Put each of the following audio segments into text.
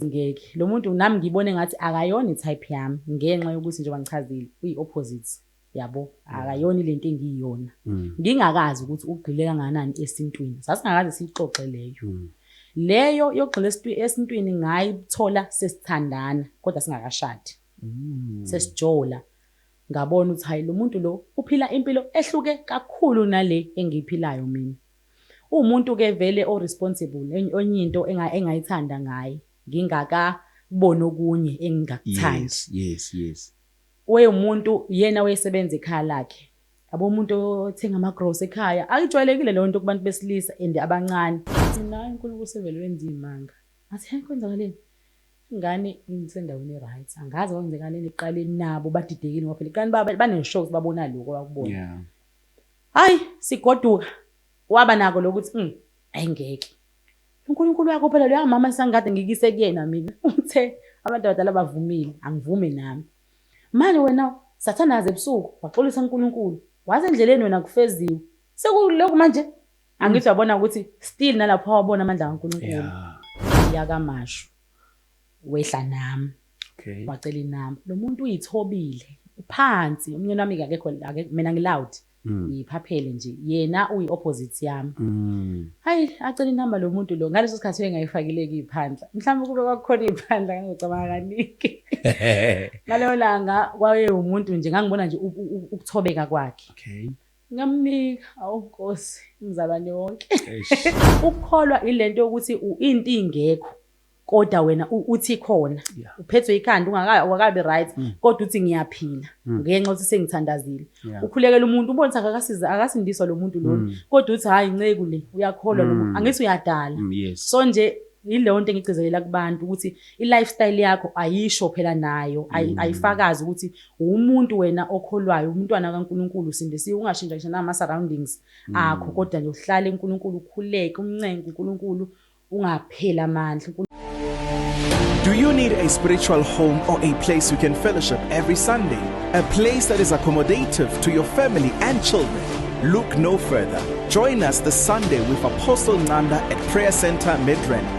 ngeke lo muntu nami ngibone ngathi akayona i-type yami ngenxa yokuthi njengoba ngichazile uyi-opposite yabo akayona ile nto engiyiyona mm. ngingakazi ukuthi ugxile kangakanani esintwini sasingakaze siyixoxe leyo mm. leyo yokugxila esintwini ngayithola sesithandana kodwa singakashadi mm. sesijola Ngabona ukuthi hhayi lomuntu lo uphila impilo ehluke kakhulu nale engiyiphilayo mina. Uwumuntu ke vele o responsible enye into engayithanda ngaye ngingaka boni okunye engingakuthandi. Yes yes. Wayewumuntu yena wayesebenza ekhaya lakhe. Yabo umuntu othenga ama gross ekhaya ayijwayelekile leyo nto kubantu besilisa and abancane. Ngathi nayi uNkulunkulu sevele wenza izimanga. Ngathi he kwenzakaleni. Ingane ingisendaweni e-right angazi kwangenzekaleni ekuqaleni nabo badidekile ngoba phela iqani baneshow ukuthi babona lokho abakubona yeah. hayi sigoduka waba nako lokuthi mm, ayi ngeke unkulunkulu wakho phela loya mama esangikade ngikise kuyena mina uthe abantu abadala bavumile angivume nami manje wena sathanazi ebusuku waxolisa unkulunkulu waze endleleni wena kufeziwe sekulokhu manje angithi wabona ukuthi still nalapho wabona amandla kaNkulunkulu yeah. yakamashu wehla nami okay. wacela inami lo muntu uyithobile phansi umnyeni wami akekho mina ngiloud mm. ngiyiphaphele nje yena uyi opposite yami mm. hayi acela inamba lo muntu lo ngaleso sikhathi engayifakileki iphandla mhlawumbe kube kwakukhona iphandla ngangicabanga kaningi ngaleyo langa kwaye umuntu nje ngangibona nje ukuthobeka kwakhe okay Ngamnika awu Nkosi umzalwane wonke. Ukukholwa ilento yokuthi into ingekho kodwa wena uthi khona uphethwe ikhanda ungakayi awakabi right mm. kodwa uthi ngiyaphila mm. ngenxa ukuthi sengithandazile ukhulekela umuntu ubona ukuthi akakasiza akasindiswa lo muntu lona mm. kodwa uthi hayi nceku le uyakholwa lo muntu angithi uyadala so nje yileyo nto engigcizelela kubantu ukuthi i-lifestyle yakho ayisho phela nayo ayifakazi ukuthi Uwumuntu wena okholwayo umntwana kaNkulunkulu usindisiwe ungashintsha ngisho nama surroundings akho kodwa nje uhlale uNkulunkulu ukhuleke umncenge uNkulunkulu ungapheli amandla. Do you need a spiritual home or a place you can fellowship every Sunday? A place that is accommodative to your family and children? Look no further. Join us this Sunday with Apostle Nanda at Prayer Center Midrand.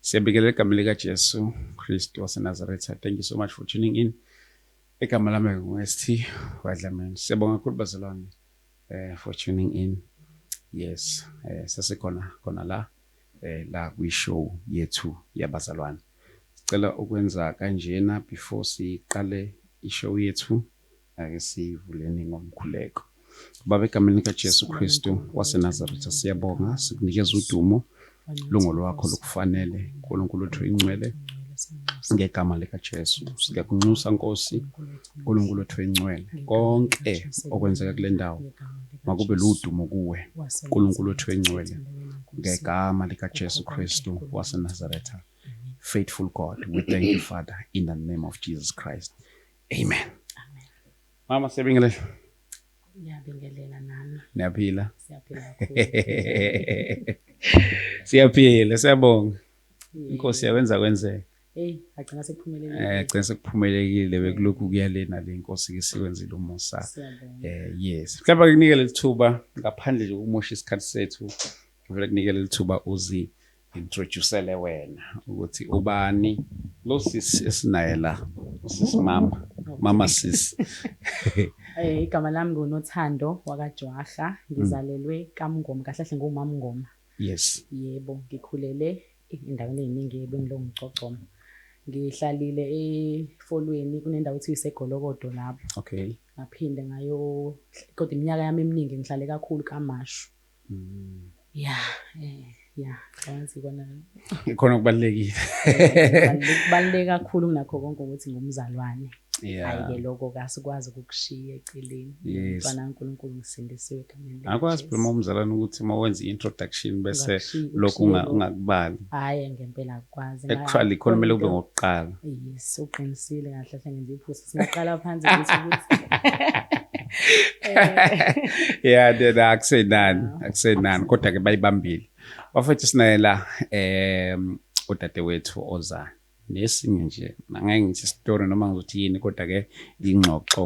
Siyabingelela egameni likaJesu Kristu waseNazaretha. Thank you so much for tuning in. Igama lami nguST Wadlamini. Siyabonga kakhulu bazalwane eh for tuning in. Yes, eh sasikhona khona la eh la kwi show yethu yabazalwane. Sicela ukwenza kanjena before siqale i show yethu. Ake sivuleni ngomkhuleko. Baba, egameni likaJesu Kristu waseNazaretha, siyabonga sikunikeza udumo lungo lwakho lokufanele nkulunkulu wethu ingcwele ngegama likaJesu siyakunxusa Nkosi uNkulunkulu wethu encwele konke okwenzeka kule ndawo makube ludumo kuwe uNkulunkulu wethu encwele ngegama likaJesu Kristu waseNazaretha faithful God we thank you Father in the name of Jesus Christ amen mama siyabingelela ngiyabingelela nami niyaphila siyaphila siyaphila siyabonga inkosi yawenza kwenzeka Hey, agcina sekuphumelelile. Eh, agcina sekuphumelelile bekulokhu kuya lena le inkosi ke sikwenzile umusa. Eh, yes. Mhlawumbe kunikele lithuba ngaphandle nje ukumosha isikhathi sethu. Ngivela kunikele lithuba uzi introducele wena ukuthi ubani lo sisi esinaye la usisi mama mama sisi eh igama lami ngunothando wakajwaha ngizalelwe kamngoma kahle kahle ngumama ngoma yes yebo ngikhulele endaweni eziningi ebengilo ngicocoma ngihlalile efolweni kunendawo ethi isegolokodo lapho okay ngaphinde ngayo kodwa iminyaka yami eminingi ngihlale kakhulu kamashu Mm. Ya, eh, ya, angazi kona. Khona kubalekile. Kubaleke kakhulu kunakho konke ukuthi ngumzalwane. Yeah. Ayike lokho kasikwazi ukukushiya eceleni. Mfana yes. uNkulunkulu ngisindisiwe egameni lakhe. Akwazi phela umzalwane ukuthi uma wenza introduction bese lokho ungakubali. Hayi ngempela akwazi. Actually khona kumele kube ngokuqala. Yes, uqinisile kahle hle ngenza iphutha. singaqala phansi ukuthi ya ndena akusenani akusenani kodwa ke bayibambile bafethu sinaye la um udadewethu oza nesinye nje angeke ngithi story noma ngizothi yini kodwa ke ingxoxo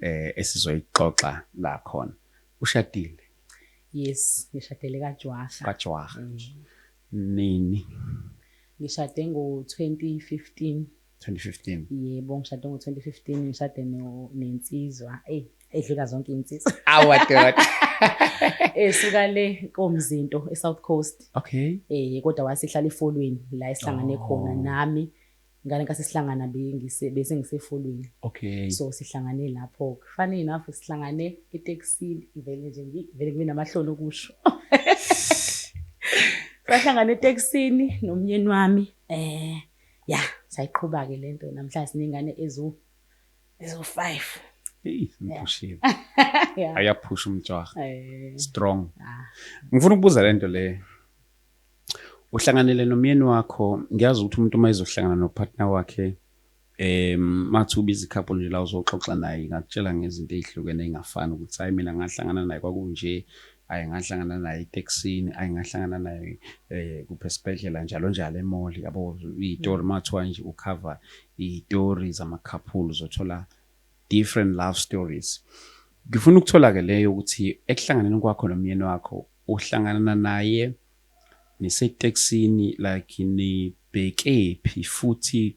eh esizoyixoxa la khona ushadile yes ngishadele kajwaha kajwaha mm. nini ngishade ngo 2015 2015 yebo ngishade ngo-2015 ngishade nensizwa eyi edlula zonke iy'nsizwa awadoda esuka le komzinto e-south coast okay um kodwa wasihlala efolweni la esihlangane oh. khona nami ngale nkathi sihlangana bese ngisefolweni okay so sihlangane lapho funny enough sihlangane etekisini ngivele nje ngivele ngibe namahloni okusho sahlangana etekisini nomnyeni wami um Ya, sayiqhuba-ke le nto namhlanje siney'ngane eziwu eziwu-five. Eyi, ngiphushile. Ya. Ayaphusha umjaha. Eh, Strong. ah. Ngifuna ukubuza le nto le. Uhlanganele nomyeni wakho, ngiyazi ukuthi umuntu uma ezohlangana nopartner wakhe em mathi ubiza ikhapho nje la uzoxoxa naye ngakutshela ngezinto ezihlukene engafani ukuthi hayi mina ngahlangana naye kwakunje ayi ngahlangana naye etekisini ayi ngahlangana naye eh kuphe sibhedlela njalo njalo emall yabo izitori mathiwa nje ucover izitori zama couple zothola different love stories ngifuna ukuthola ke leyo ukuthi ekuhlanganeni kwakho nomyeni wakho uhlangana naye nisetekisini like nibhekephi futhi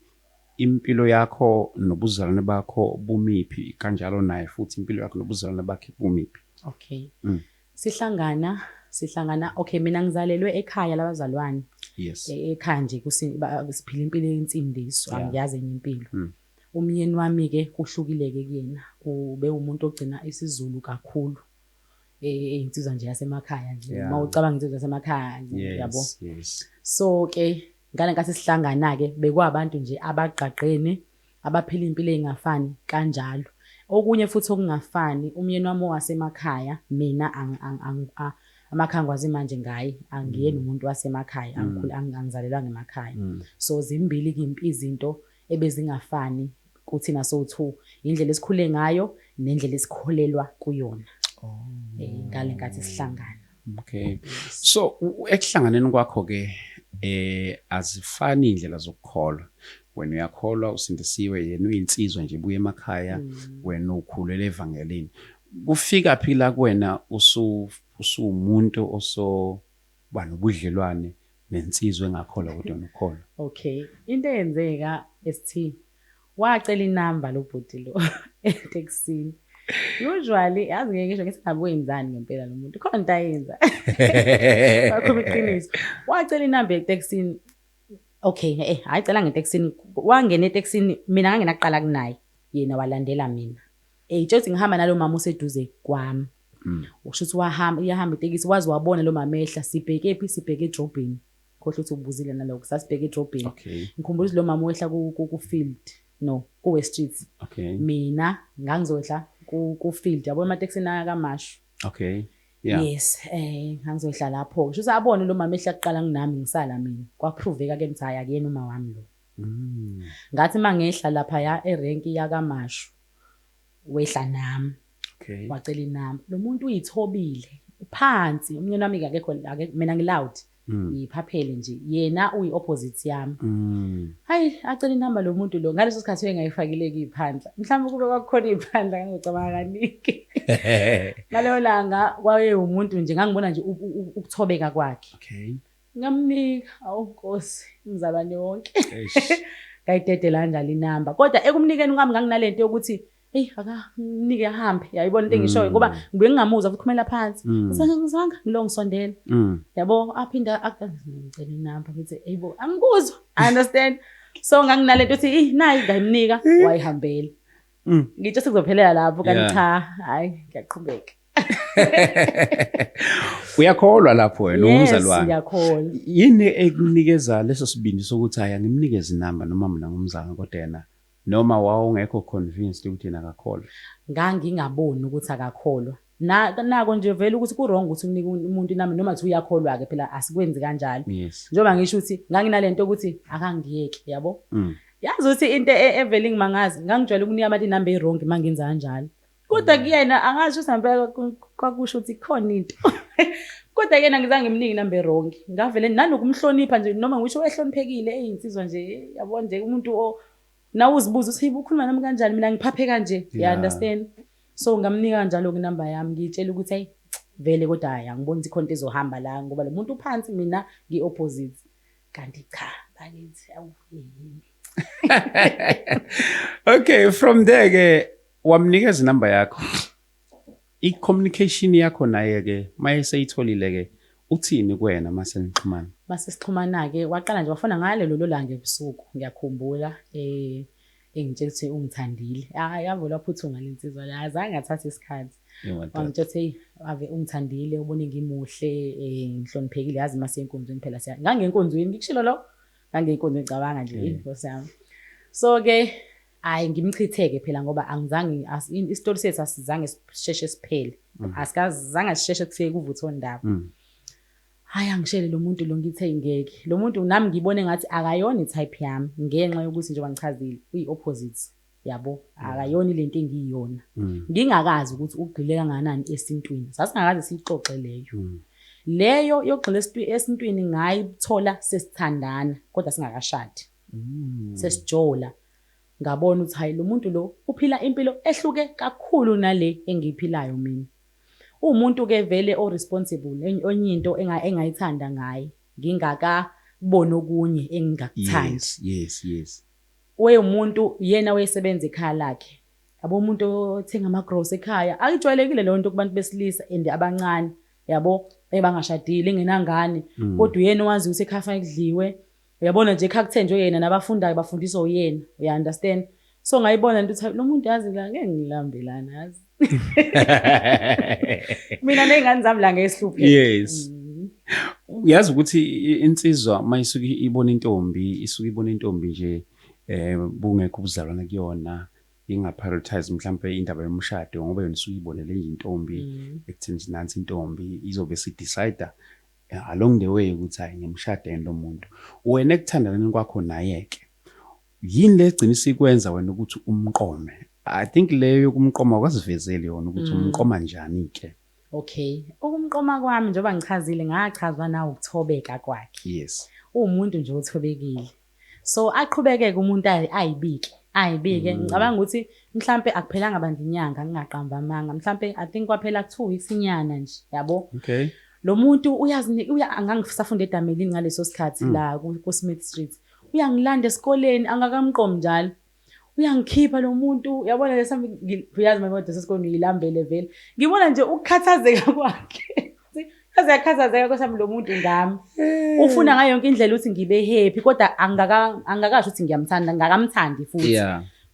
Impilo yakho nobuzalwane bakho bumiphi kanjalo naye futhi impilo yakho nobuzalwane bakhe bumiphi? Okay. Mm. Sihlangana sihlangana okay mina ngizalelwe ekhaya labazalwane yes e, ekhaya nje siphila impilo yensindiso yeah. angiyazi enye impilo mm. umyeni wami ke kuhlukile ke kuyena ube umuntu ogcina isizulu kakhulu e, e, insizwa nje yasemakhaya nje uma ucabanga insizwa yasemakhaya nje yabo so ke Ngale nkathi sihlangana-ke bekuwabantu nje abagqagqene, abaphila iy'mpilo ey'ngafani kanjalo. Okunye futhi okungafani, umyeni wami owasemakhaya mina amakhaya ngikwazi manje ngaye, angiyena umuntu wasemakhaya, angizalelwanga emakhaya. So zimbili kimp izinto ebezingafani kuthina sowu two, indlela esikhule ngayo nendlela esikholelwa kuyona oh. eh, ngale nkathi sihlangana. Okay. So ekuhlanganeni kwakho ke eh azifani indlela zokukholwa. Wena uyakholwa usindisiwe yena uyinsizwa nje buye emakhaya mm. wena ukhulele evangelini. Kufika phi la kuwena usu usumuntu oso Uba nobudlelwane nensizwa engakholwa kodwa nokholwa. Okay into eyenzeka ST wacela inamba lobhuti lo eteksini. Usually yazi ngeke ngisho ngithi ngabe wenzani ngempela lo muntu khona into ayenza. Wakhuluma iqiniso. Wacela inamba eteksini okay eh hayi cela ngeteksini wangena eteksini mina ngangena kuqala kunaye yena walandela mina. Eyitshela ukuthi ngihamba nalo mama useduze kwami. Mm. Usho ukuthi wahamba iyahamba itekisi wazi wabona lo mamehla sibheke phi sibheke edrobheni. Khohle ukuthi ubuzile naloko sasibheke edrobheni. Okay. Ngikhumbula ukuthi lo mama wehla ku ku, ku field no ku West Street. Okay. Mina ngangizodla ku ku field yabo emateksi na kamashu. Okay. Yeah. Yes, eh ngangizodla lapho. Usho ukuthi abone lo mama ehla kuqala nginami ngisala mina. Kwaproveka ke mthaya akuyena uma wami lo. Mm. Ngathi mangehla lapha ya erenki yakamashu. wehla nami okay. wacela inamba lo muntu uyithobile phansi umnyeni wami akekho mina ngiloud mm. ngiyiphaphele nje yena uyi-opposite yami mm. hayi acela inamba lo muntu lo ngaleso sikhathi uyengayifakileki iphandla mhlawumbe kube kwakukhona iphandla ngangicabanga kaningi ngaleyo langa kwayewumuntu nje ngangibona nje ukuthobeka kwakhe okay. Ngamnika awu Nkosi umzalwane wonke. Ngayidedela kanjalo inamba. Kodwa ekumnikeni kwami nganginalento yokuthi eyi akamnike ahambe yayibona into engishoyo ngoba mm. ngibuye ngingamuzwa futhi khumela phansi mm. ngizange ngilo ngisondela mm. yabo aphinde ngicela inamba ngithi eyibo angikuzwa i understand so nganginalento yokuthi eyi nayi ngayimnika wayihambela Mm. ngitsho sekuzophelela lapho kanti Yeah. cha hayi ngiyaqhubeka uyakholwa lapho wena yes umzalwane ngiyakholwa yini ekunikeza leso sibindi sokuthi hhayi angimnikezi inamba noma mina ngumzalwane kodwa yena noma wawungekho convinced ukuthi yena akakholwa ngangingaboni ukuthi akakholwa Nako nje vele ukuthi kurong ukuthi unike umuntu inamba noma kuthi uyakholwa-ke phela asikwenzi kanjalo njengoba ngisho ukuthi nganginale nto yokuthi akangiyeki yabo mm. yazi ukuthi into e, evele ingimangazi ngangijwayele ukunika abantu inamba eyirongi uma ngenza kanjalo kodwa mm. kuyena angazi ukuthi sampe kwakusho ukuthi khona into kodwa kuyena ngizange ngimnike inamba erongi ngavele nanokumhlonipha nje noma ngisho ehloniphekile eyinsizwa nje yabo nje umuntu nawe uzibuza ukuthi ukhuluma nami kanjani mina ngiphaphe kanje you understand So ngamnika kanjalo-ke inamba yami ngiyitshela ukuthi ayi vele kodwa hhayi angiboni ukuthi khona into ezohamba la ngoba lo muntu uphansi mina ngi-opposite kanti cha bakithi awu yini okay from there ke wamnikeza inamba yakho i-communication yakho naye-ke maye seyitholile-ke uthini kuwena uma senixhumana uma sesixhumana-ke waqala nje wafona ngale lolo langa ebusuku ngiyakhumbula um engitshela ukuthi ungithandile ah yavele waphuthuma lensizwa la azange athathe isikhathi wangitshela ukuthi ave ungithandile ubone ngimuhle eh ngihloniphekile yazi mase enkonzweni phela siya ngangenkonzweni ngikushilo lo ngangenkonzweni cabanga nje mm. inkosi yami so ke hayi ngimchitheke phela ngoba angizange isitori sethu asizange sisheshe siphele mm. asikazange sisheshe kufike kuvuthe ondaba mm. Hhayi angishele lo muntu lo ngithe ngeke. Lo muntu nami ngibone ngathi akayona i-type yami ngenxa yokuthi njengoba ngichazile uyi-opposite yabo akayona ile nto engiyiyona mm. ngingakazi ukuthi ugxile kangakanani esintwini sasingakaze siyixoxe leyo mm. leyo yokugxila esintwini ngayithola sesithandana kodwa singakashadi mm. sesijola ngabona ukuthi hayi lo muntu lo uphila impilo ehluke kakhulu nale engiyiphilayo mina uwumuntu ke vele o responsible enye into engayithanda ngaye ngingaka boni okunye engingakuthandi yes yes wayewumuntu yena wayesebenza ekhaya lakhe yabo umuntu othenga ama grocery ekhaya ayijwayelekile leyo nto kubantu besilisa and abancane yabo ebangashadile engenangane mm. kodwa uyena owazi ukuthi ekhaya fanele kudliwe Uyabona nje ekhakuthenjwe yena nabafundayo bafundiswa uyena. Uya understand? So ngayibona into ukuthi lo muntu yazi la ngeke ngilambe lana yazi. Mina nezingane zami la ngeke sihluphe. Yes. Mm. uyazi ukuthi insizwa uma isuke ibona intombi isuke ibona intombi nje eh bungekho ubuzalwane kuyona ingaprioritize mhlawumbe indaba yomshado ngoba yona isuke ibonele intombi mm. ekuthini nansi intombi izobe sidecide Along the way ukuthi hayi ngiyamshada yini lomuntu. Wena ekuthandaneni kwakho nayeke. Yini le egcina isikwenza wena ukuthi umqome? I think leyo yokumqoma awukazivezeli yona ukuthi mm. umqoma njani ke. Okay. Ukumqoma kwami njengoba ngichazile ngachazwa na ukuthobeka kwakhe. Yes. Uwumuntu nje othobekile. so aqhubekeke umuntu ayibike ayibike mm. ngicabanga ukuthi mhlampe akuphelanga bandla inyanga ngingaqamba amanga mhlampe i think kwaphela two weeks inyana nje yabo okay lo muntu uyazinika uya angangisafunda edamelini ngaleso sikhathi mm. la ku Smith Street uyangilanda esikoleni angakamqomi njalo uyangikhipha lo muntu uyabona lesa uyazi uma ngiwade sesikoleni uyilambele vele ngibona nje ukukhathazeka kwakhe yaze yakhathazeka kwesami lo muntu ngami eh. ufuna ngayo yonke indlela ukuthi ngibe happy kodwa angakasho ukuthi ngiyamthanda ngakamthandi futhi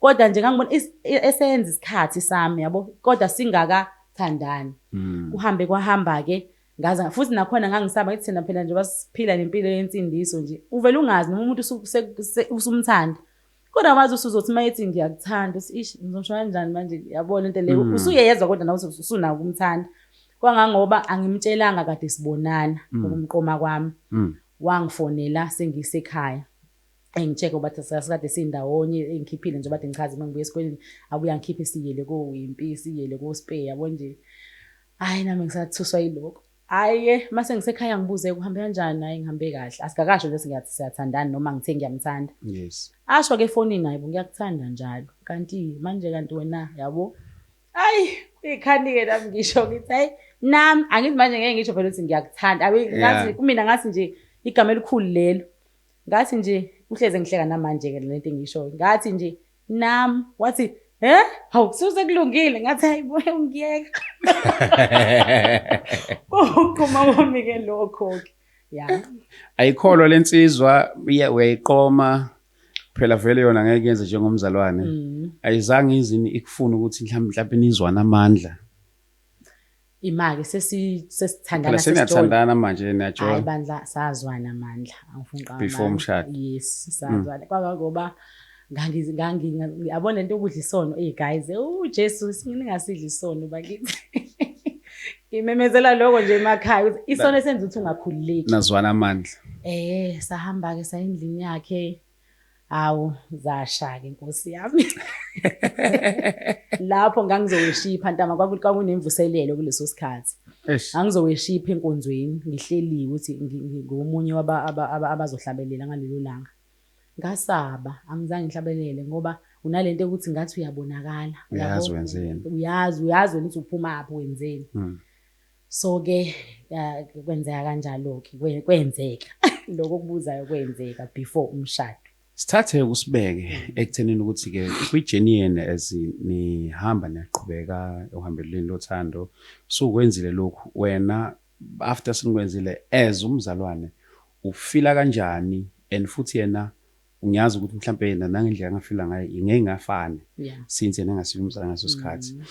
kodwa nje ngangibona e-, esenza isikhathi sami yabo kodwa singakathandani hmm. kuhambe kwahamba-ke ngaze futhi nakhona ngangisaba ngithi thina phela nje basiphila nempilo yensindiso nje uvele ungazi noma umuntu usumthanda kodwa wazi usuzothi uma ethi ngiyakuthanda uthi ish ngizosho kanjani manje yabona into leyo mm. usuyeyezwa kodwa nawe usunako ukumthanda kwangangoba angimtshelanga kade sibonana mm. ukumqoma kwami mm. wangifonela sengisekhaya engitsheke uba sasikade sindawonye engikhiphile nje bade ngichaze uma ngibuya esikoleni abuya ngikhiphe siyele kowimpi siyele kospay yabo nje hhayi nami ngisathuswa yilokho Hhayi ke mase ngisekhaya ngibuze kuhambe kanjani hhayi ngihambe kahle asikakasho nje singathi siyathandana noma ngithe ngiyamthanda yes asho ke efonini hayi bo ngiyakuthanda njalo kanti manje kanti wena yabo ayi ikhani-ke nami ngisho ngithi hayi nami angithi manje ngeke ngisho vele ukuthi ngiyakuthanda ngathi kumina ngathi nje igama elikhulu lelo ngathi nje uhleze ngihleka namanje-ke lento engiyishoyo ngathi nje nam wathi he hawu suse kulungile ngathi hayibuye ungiyeka koqoma kwami ke lokho-ke ya ayikholwa le nsizwa uya- uyayiqoma phela vele yona ngeke yenze njengomzalwane Mm. ayizange izini ikufuna ukuthi mhlawumbe mhlawumbe nizwane amandla Imake sesithandana sesijole. Seniyathandana manje niyajole. Hayi bandla sazwana amandla angifuni qaba. Before umshado. Yes mm. sazwana. Kwaba ngoba ngangi ngangi yabona lento yokudla isono hey guys u Jesu singingasidla isono bakithi. Ngimemezela lokho nje emakhaya ukuthi isono esenza ukuthi ungakhululeki. Nazwana amandla. Eh sahamba ke sayindlini yakhe. Hawu zashake nkosi yami. Lapho ngangizoweshipha ntama kwakunemvuselelo kuleso sikhathi. Ngangizoweshipha enkonzweni ngihleliwe ukuthi ngomunye abazohlabelela ngalelo langa. Ngasaba angizange ngihlabelele ngoba unalento ukuthi ngathi uyabonakala. Uyazi wenzeni. Uyazi uyazi wena ukuthi uphuma apho wenzeni. Hmm. so ke kwenzeka kanjalo ke kwenzeka lokho kubuzayo kwenzeka before umshado sithathe kusibeke mm. ekuthenini ukuthi ke kwi-journey yenu as nihamba niyaqhubeka ohambelweni lothando sukwenzile lokhu wena after sinikwenzile as umzalwane ufila kanjani and futhi yena ngiyazi ukuthi mhlawumbe yena nangendlela angafila ngayo ingeke ngafane since yena engasiyo umzalwane ngaso sikhathi mm.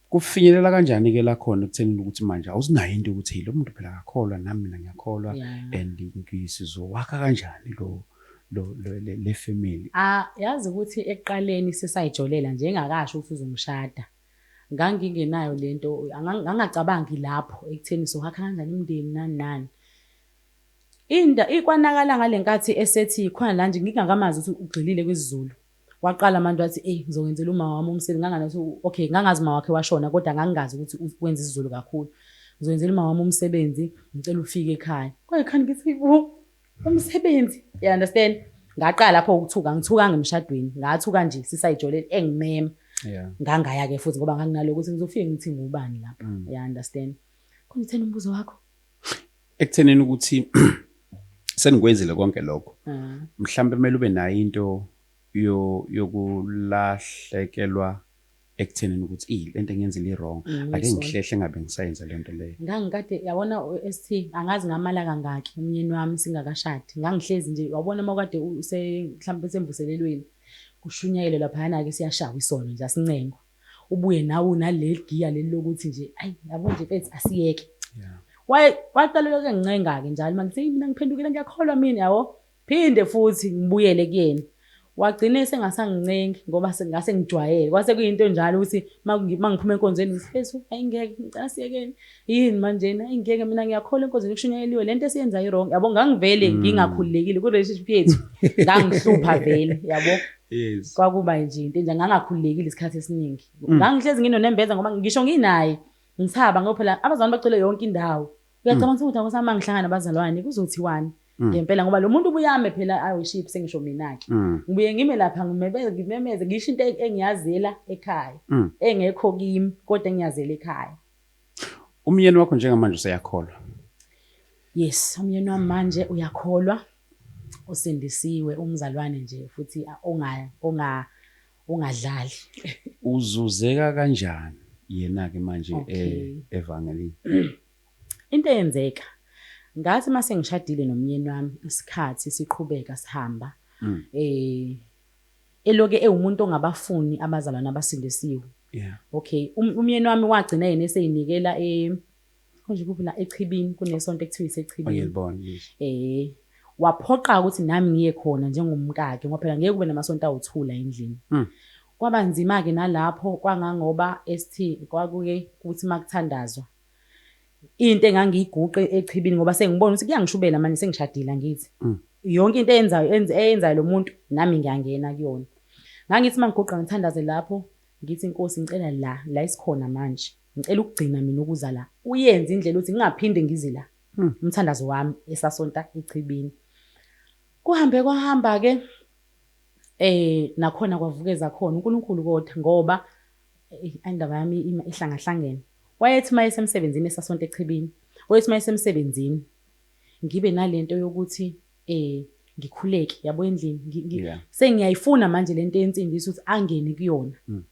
Kufinyelela kanjani ke la khona ekuthenini ukuthi manje awusinayo into ukuthi lo muntu phela akakholwa nami mina ngiyakholwa and ngizowakha kanjani lo lo le family. Ah yazi ukuthi ekuqaleni sisayijolela nje engakasho ukuthi uzongishada. Ngangingenayo lento angangacabangi lapho ekutheni sohakha kanjani umndeni nani nani. Inda ikwanakala ngalenkathi esethi khona la nje ngingakamazi ukuthi ugxilile kwisiZulu. waqala manje wathi eyi ngizowenzela umama wami umsebenzi ngangathi okay ngangazi uma wakhe washona kodwa ngangingazi ukuthi wenza isizulu kakhulu ngizowenzela umama wami umsebenzi ngicela ufike ekhaya kwaye khani ngithi bo umsebenzi you understand ngaqala lapho ukuthuka ngithuka ngemshadweni ngathuka nje sisayijoleni engimema ngangaya ke futhi ngoba nganginaloko ukuthi ngizofike ngithi ngubani lapha mm. you understand khona uthena umbuzo wakho ekutheneni ukuthi senikwenzile konke lokho mm. mhlawumbe kumele ube nayo into yokulahlekelwa ekuthenini ukuthi iyi lento engiyenzile i-wrong mm, ake ngihlehle ngabe ngisayenza lento leyo ngangikade yabona ST angazi ngamala kangaki umyeni wami singakashadi ngangihlezi nje wabona uma kade mhlawumbe semvuselelweni kushunyayelwe laphayana-ke siyashawa isono nje asincengwa ubuye nawe unaleli giya leli lokuthi nje ayi yabo nje mfethu asiyeke waqalelwa ke ngincenga-ke njalo manje seyi mina ngiphendukile ngiyakholwa mina yabo phinde futhi ngibuyele kuyena wagcine sengasangincengi ngoba ngase ngijwayele kwase kuyinto njalo ukuthi uma ngiphuma enkonzweni ngithi fethu ayi ngeke ngicela siyekeni Yini manjena ingeke mina ngiyakholwa enkonzweni kushunyayeliwe lento esiyenzayo iwrong yabo ngangivele mm. ngingakhululekile ku-relationship yethu ngangihlupha vele yabo yes kwakuba nje into enje ngangakhululekile isikhathi esiningi mm. ngangihlezi nginonembeza ngoba ngisho nginaye ngisaba ngoba phela abazalwane bacele yonke indawo uyacabanga mm. ukuthi akusama ngihlangana abazalwane kuzothiwani mm. ngempela ngoba lo muntu ubuyame phela awu ship sengisho mina-ke ngibuye ngime lapha ngimemeze ngisho into e-, engiyazela ekhaya engekho kimi kodwa engiyazela ekhaya Umyeni wakho njengamanje useyakholwa? Yes, umyeni wami manje uyakholwa. Usindisiwe umzalwane nje futhi onga onga ungadlali. Uzuzeka kanjani yena ke manje eh, okay. evangelini? Into eyenzeka ngathi mase ngishadile nomyeni wami isikhathi siqhubeka sihamba mm. eh eloke ewumuntu ongabafuni abazalwane abasindisiwe yeah. okay um, umyeni wami wagcina yena eseyinikela e konje kuphi la echibini kunesonto ekuthiwa isechibini eh waphoqa ukuthi nami ngiye khona njengomkakhe ngoba phela ngeke kube namasonto awuthula endlini mm. kwaba nzima ke nalapho kwangangoba ST kwakuke kuthi makuthandazwa into engangiyiguqe echibini ngoba sengibona ukuthi kuyangishubela manje sengishadile angithi mm. yonke into eyenzayo eyenzayo lo muntu nami ngiyangena kuyona ngangithi uma ngiguqa ngithandaze lapho ngithi inkosi ngicela la la isikhona manje ngicela ukugcina mina ukuza la uyenze indlela ukuthi ngingaphinde ngize la mm. umthandazo wami esasonta echibini kuhambe kwahamba-ke eh nakhona kwavukeza khona uNkulunkulu kodwa ngoba Eyi, indaba yami ima ihlangahlangene. Wayethi uma esemsebenzini esasonto echibini, wayethi uma esemsebenzini ngibe nale nto yokuthi um ngikhuleke yabo endlini ngi- ngi- Yeah. sengiyayifuna manje le nto yensindiso ukuthi angene kuyona Mm.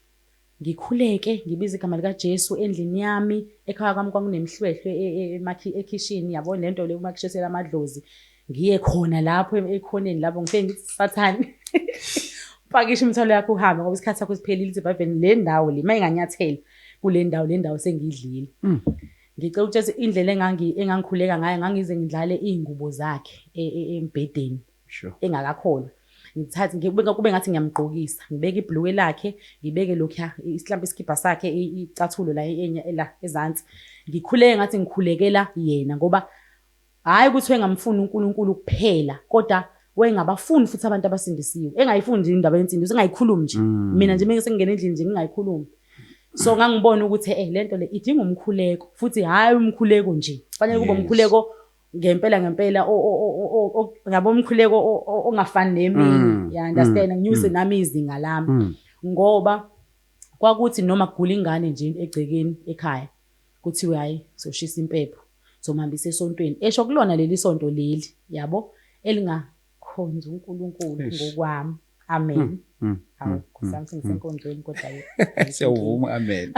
ngikhuleke ngibize igama likajesu endlini yami ekhaya kwami kwakunemihlwehlwe e- e- emakhi- ekhishini yabo le nto le umakhishesela amadlozi ngiye khona lapho ekhoneni lapho ngifike ngithi sathane pakisha imithwalo yakho uhambe ngoba isikhathi sakho siphelile sebhaveni le ndawo le uma inganyathela kule ndawo le ndawo sengiyidlile mm. ngicela ukutshela indlela engangikhuleka ngayo ngangize ngidlale iy'ngubo zakhe e, e, embhedeni engakakhona ngithathe kube ngathi ngiyamgqokisa ngibeke ibhluke lakhe ngibeke lokhuya isihlampe isikhibha sakhe icathulo la ezansi ngikhuleke ngathi ngikhulekela yena ngoba Hhayi ukuthi wayengamfuni uNkulunkulu kuphela kodwa wayengabafuni futhi abantu abasindisiwe. Engayifuni nje indaba yensindiso, engayikhulumi nje. Mm. Mina nje uma sengingena endlini nje ngingayikhulumi. So ngangibona ukuthi eh le nto le idinga umkhuleko futhi hhayi umkhuleko nje. Kufanele kube umkhuleko ngempela ngempela yabo umkhuleko ongafani neminye. Mm. Ya understand mm. nginyuse mm. nami izinga lami. Ngoba kwakuthi noma kugula ingane nje egcekeni ekhaya Kuthiwe hhayi soshisa impepho, somhambisa esontweni. Esho kulona leli sonto leli, yabo, elingakhonza uNkulunkulu Eish. ngokwami. Amen. Mm, mm, Hawu, mm, Nkosi mm, yami sengisenkonzweni kodwa ke. ayikho Siyawuvuma inkinga. amen.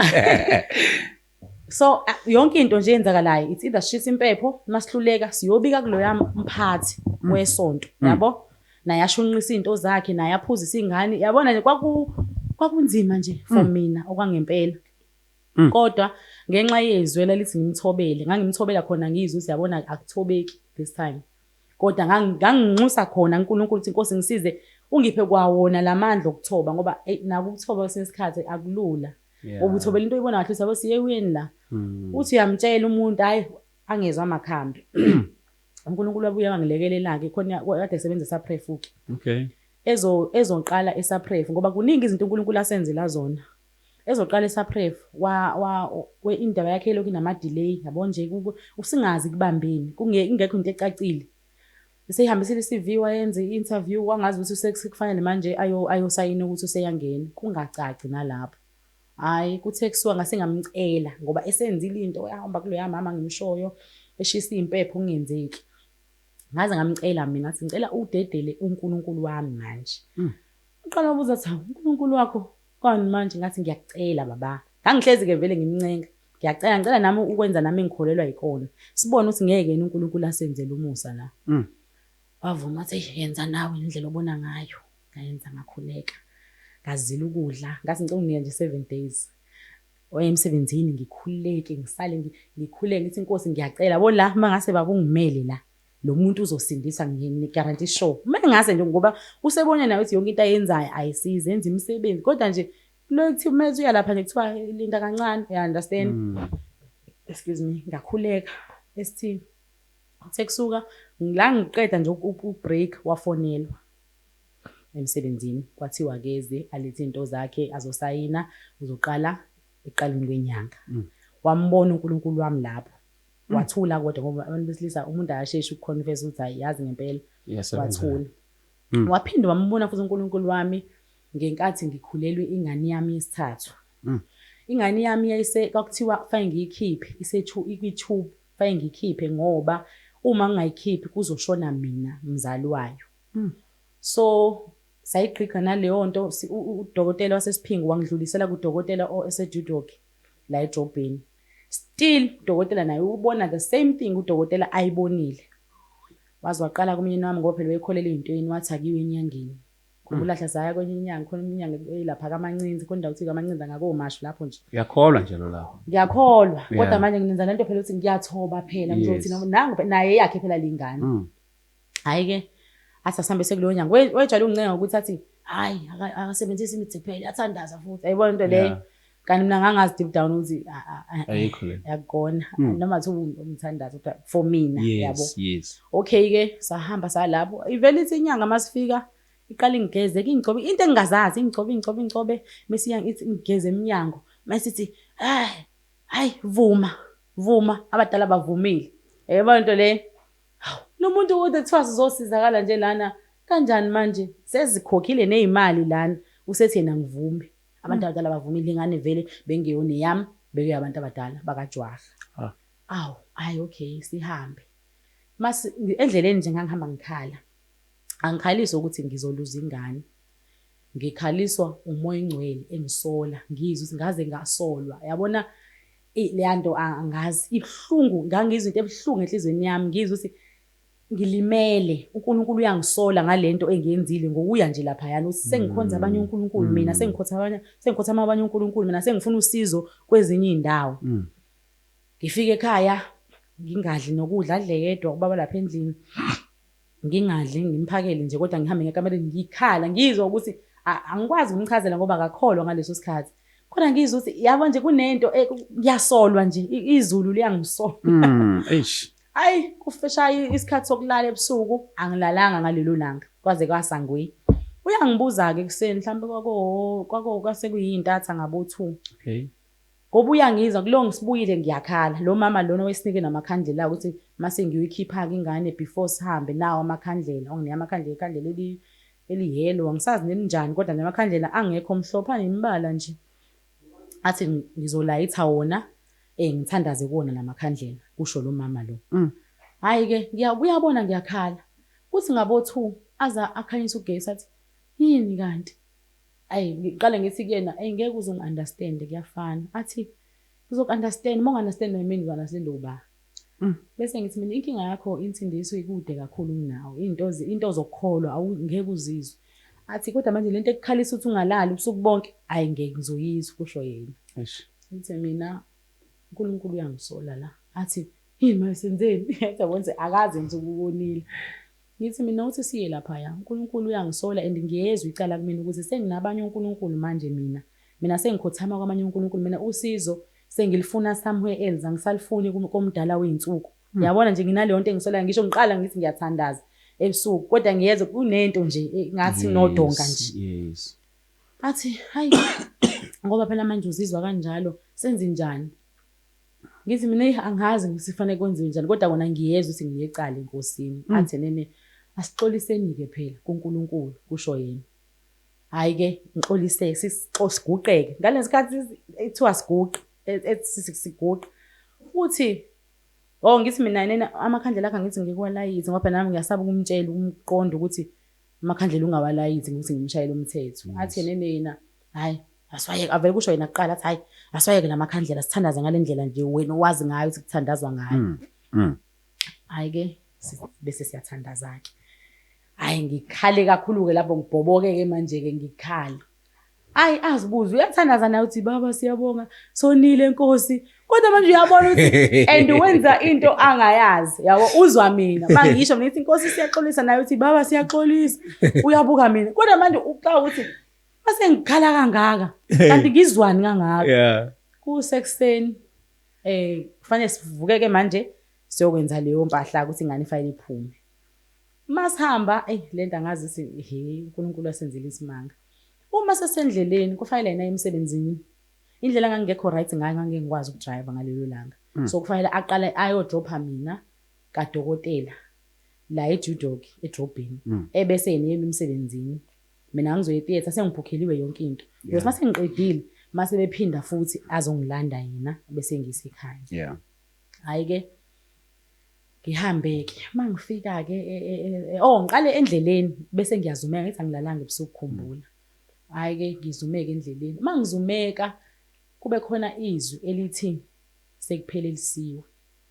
So a- yonke into nje eyenzakalayo it's either sishisa impepho masihluleka siyobika kuloya mphathi wesonto Mm. yabo naye ashunqisa izinto zakhe naye aphuzisa ingane yabona nje kwaku kwakunzima nje for Mm. mina okwangempela Mm. kodwa ngenxa yezwi elalithi ngimthobele ngangimthobela khona ngizwe ukuthi yabona akuthobeki this time kodwa nganginxusa khona uNkulunkulu ukuthi inkosi ngisize ungiphe kwawona lamandla okuthoba ngoba eh, naku ukuthoba kwesinye isikhathi akulula ngoba uthobela into oyibona kahle sabo siye kuyini la mm. uthi uyamtshela umuntu hayi angezwa amakhambi mm. uNkulunkulu wabuye wangilekelela ke khona kade sebenzisa prefuki okay ezo ezoqala esaprefu ngoba kuningi izinto uNkulunkulu asenzela zona Ezoqala eSapref wa wa we indaba yakhe ilokhu inama delay yabo nje usingazi kubambeni kunge ingekho into ecacile. Eseyihambisile iCV wayenza iinterview wangazi ukuthi usekufanele manje ayo ayosayina ukuthi useyangena kungacaci nalapho. Hayi kuthe kusuka ngase ngamcela ngoba esenzile into yahamba kuloya mama ngimshoyo eshisa impepho kungenzeki. Ngaze ngamcela mina ngathi ngicela udedele uNkulunkulu wami manje. Uqala ubuza ukuthi uNkulunkulu wakho Kwani manje ngathi ngiyakucela baba. Ngangihlezi ke vele ngimncenga. Ngiyacela ngicela nami ukwenza nami engikholelwa yikona. Sibone ukuthi ngeke yena uNkulunkulu asenzele umusa la. Mm. Wavuma wathi eish yenza nawe indlela obona ngayo. Ngayenza ngakhuleka. Ngazila ukudla, ngathi ngicela unginike nje 7 days. Oya emsebenzini ngikhuleke, ngisale ngi- ngikhuleke ngithi inkosi ngiyacela bo la mangase baba ungimele la. lo muntu uzosindiswa ngiyakugaranti sure uma engase nje ngoba usebone naye ukuthi yonke into ayenzayo ayisize enza imisebenzi kodwa nje kulo kuthi uma ethi uyalapha nje kuthiwa linda kancane you understand mm. excuse me ngakhuleka esithini uthe kusuka la ngiqeda nje ubreak wafonelwa emsebenzini kwathiwa keze alethe into zakhe azosayina uzoqala eqaleni kwenyanga mm. wambona uNkulunkulu wami lapho Mm. wathula kodwa ngoba abantu besilisa umuntu akasheshi ukuconfess ukuthi hayi yazi ngempela wathula mm. waphinde wambona futhi uNkulunkulu wami ngenkathi ngikhulelwe ingane yami yesithathu mm. ingane yami yayise kwakuthiwa kufanele ngiyikhiphe isethu ikwi-tube kufanele ngiyikhiphe ngoba uma ngingayikhiphi kuzoshona mina mzali wayo mm. so sayigqigqa naleyo nto udokotela wasesiphingo wangidlulisela kudokotela osejudoki la edrobheni Still udokotela naye ubona the same thing udokotela ayibonile. Waze waqala kumyeni wami ngoba phela wayekholelwa ezintweni wathi akiwe enyangeni. Khumbula hmm. hlazaya kwenye inyanga khona inyanga elapha kamancinzi khona indawo ukuthi kamancinzi angakomashu lapho nje. Ngiyakholwa nje lo lawo. Ngiyakholwa kodwa manje nginenza lento phela ukuthi ngiyathoba phela ngizothi nangu naye yakhe phela lengane. Hmm. Hhayi ke athi asihambe sekulowo nyanga wayejwayele ungicenga ngokuthi athi hhayi akasebenzisi imithi kuphela athandaza futhi ayibona into leyo kanti mina ngangazi deep down ukuthi yakona hmm. noma thi umthandazo kodwa for mina yabo okay ke sahamba salapho ivele ithi inyanga masifika iqala ingigeze ke ingigcobe into engingazazi ingigcobe ingigcobe ingigcobe mese ithi ngigeze eminyango mase ithi hayi hayi vuma vuma abadala bavumile yayibona into leyo Hawu, lo muntu ukuthi kuthiwa sizosizakala nje lana kanjani manje? Sezikhokhile nezimali lana, usethi yena angivumi. Abantu abadala abavumile, ingane vele bengeyona eyami, bekeyabantu abadala bakaJwaha. Ah. Awu, hhayi okay, sihambe. Mase endleleni nje ngangihamba ngikhala. Angikhaliswa ukuthi ngizoluza ingane. Ngikhaliswa umoya ongcwele engisola, ngizwe ukuthi ngaze ngasolwa. Yabona Eyi leyanto angazi ibuhlungu ngangizwa into ebuhlungu enhlizweni yami ngizwa ukuthi ngilimele uNkulunkulu uyangisola ngalento engiyenzile ngokuya nje laphayana ukuthi sengikhonza abanye uNkulunkulu mina mm. sengikhotha abanye sengikhotha abanye uNkulunkulu mina sengifuna usizo kwezinye indawo mm. ngifike ekhaya ngingadli nokudla adle yedwa ubaba lapha endlini Ngingadli ngimphakele nje kodwa ngihambe ngekamereni ngikhala ngizwa ukuthi angikwazi ukumchazela ngoba akakholwa ngaleso sikhathi khona ngizwa ukuthi yabo nje kunento eh, ngiyasolwa nje izulu liyangisola mm, ayi kufeshaye isikhathi sokulala ebusuku angilalanga ngalelo langa kwaze kwasangwi uyangibuza-ke ekuseni mhlawumbe kwako kwasekuyiyintatha ngabo-two okay Ngoba uyangizwa kulo ngisibuyile ngiyakhala. Lo mama lona owesinike namakhandlela ukuthi mase ngiyoyikhipha-ke ingane before sihambe nawo amakhandlela. Onginike amakhandlela ikhandlela eli eliyellow angisazi nelinjani kodwa nje amakhandlela angekho mhlophe anemibala nje. Athi ngizolayitha wona eh ngithandaze kuwona lamakhandlela kusho lo mama lo. Mm. Hayi ke ngiya kuyabona ngiyakhala. Kuthi ngabo 2 aza akhanyisa ugesi athi yini kanti? Ayi ngiqale ngithi kuyena ayi ngeke uze ungi-understand kuyafana. Athi ngizoku-understand uma ungi-understand wena mina ngizo-understand uba. Mm. Bese ngithi mina inkinga yakho insindiso ikude kakhulu kunawe. Into into ozokukholwa awungeke uzizwe. Athi kodwa manje lento ekukhalisa ukuthi ungalali ubusuku bonke ayi ngeke ngizoyizwa kusho yena. Eish. Ngithe mina uNkulunkulu uyangisola la. Athi yini manje senzeni? Yathi yabona akaze nje ukubonile. Ngithi mina uthi siye laphaya uNkulunkulu uyangisola and ngiyezwa icala kumina ukuthi senginabanye onkulunkulu manje mina mina sengikhothama kwamanye onkulunkulu mina usizo sengilifuna somewhere else angisalifuni komdala weyinsuku hmm. yabona nje nginaleyonto engisolayo ngisho ngiqala ngithi ngiyathandaza ebusuku kodwa ngiyezwa kunento nje eh, ngathi nodonga nje yes athi hayi ngoba phela manje uzizwa kanjalo senze njani Ngithi mina eyi angazi ukuthi kufanele kwenziwe njani kodwa kona ngiyezwa ukuthi ngiyecala enkosini. Mm. Athi nene asixoliseni-ke phela kuNkulunkulu kusho yena. Hhayi-ke ngixoliseke siguqeke ngale sikhathi kuthiwa siguqe siguqe futhi o oh, ngithi mina nena amakhandlela akhe angithi ngikuwalayizi ngoba phela nami ngiyasaba ukumtshela umqondo ukuthi amakhandlela ungawalayithi ngokuthi ngimshayele umthetho athi yena eneyena hhayi asiwayeke avele kusho yena kuqala athi hhayi asiwayeke la makhandlela sithandaze ngale ndlela nje wena owazi ngayo ukuthi kuthandazwa ngayo mm, mm. hhayi-ke bese siyathandaza-ke hhayi ngikhale kakhulu-ke lapho ngibhoboke-ke manje-ke ngikhale Ayi azibuze uyathandaza naye uthi baba siyabonga sonile nkosi kodwa manje uyabona ukuthi and wenza into angayazi yabo uzwa mina bangisho mina ithi inkosi siyaxolisa naye uthi baba siyaxolisa uyabuka mina kodwa manje uxa ukuthi base ngikhala kangaka kanti ngizwani kangaka yeah kusekuseni eh kufanele sivukeke manje siyokwenza leyo mpahla ukuthi ingane ifanele iphume Masihamba, eyi lento angazi si he uNkulunkulu asenzile isimanga. Uma sesendleleni kufanele yena emsebenzini. Indlela ngangekho right ngayo ngangeke ngikwazi ukudrive ngalelo langa. Mm. So kufanele aqale ayodropha mina kadokotela la eJudoki edrobheni mm. ebese yena yena emsebenzini. Mina ngizoye theater sengibhukheliwe yonke into. Because mase ngiqedile mase bephinda futhi azongilanda yena bese ngisekhaya. Yeah. Hayi ke Ngihambe-ke uma ngifika-ke e, e, e, oh ngiqale endleleni bese ngiyazumeka ngithi angilalanga ebusuku khumbula. Hhayi-ke ngizumeke endleleni. Uma ngizumeka kube khona izwi elithi sekuphelelisiwe.